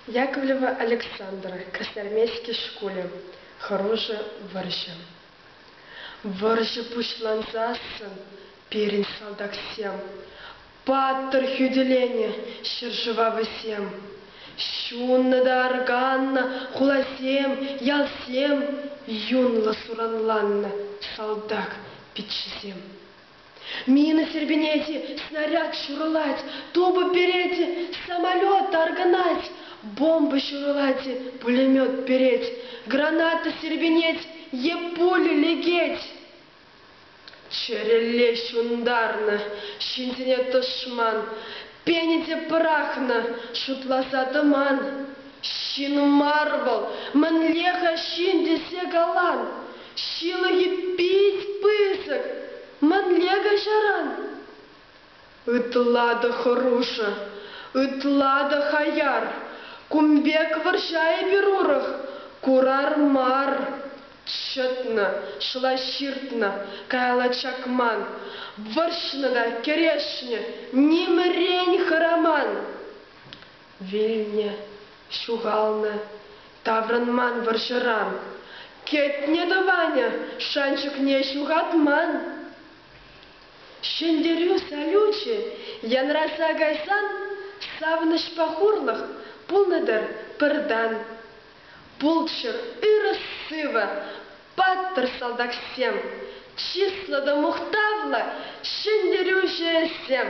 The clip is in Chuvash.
Яковлева Александр, Красноармейски шкулӗ, хӑрушӑ вӑрҫӑ. Вӑрҫӑ пуҫлансассӑн пирӗн салтаксем, паттӑр хӳтӗленӗ ҫӗршыва вӗсем, ҫуннӑ та арканнӑ хуласем, ялсем, юнлӑ суранланнӑ салтак пиччесем. Мина сирпӗнет, снаряд ҫурӑлать, тупӑ перет, самолет таркӑнать, бомба ҫурӑлать, пулемет перет, граната сирпӗнет е пуля лекет. Чӗрелле ҫунтарнӑ ҫынсене тӑшман Пенине пӑрахнӑ, шутласа тӑман ҫын мар вӑл. Мӗнле-ха ҫын тесе калан? Ҫылӑхӗ пит пысӑк. Мӗнле каҫаран? Ытла та хӑрушӑ, ытла та хаяр. Кун пек вӑрҫа эпир урӑх курар мар. Чӑтнӑ, шӑла ҫыртнӑ, каялла чакман, вӑрҫнӑ та кӗрешнӗ, нимӗрен хӑраман. Вилнӗ, ҫухалнӑ, таврӑнман вӑрҫӑран. Кӗтнӗ тӑванӗ шанчӑкне ҫухатман. Ҫӗнтерӳ салючӗ янраса кайсан савӑнӑҫпа хурлӑх пулнӑ-тӑр пӗртан. Пулччӑр, ырӑ-сывӑ, паттӑр салтаксем, чыслӑ та мухтавлӑ ҫӗнтерӳҫӗсем!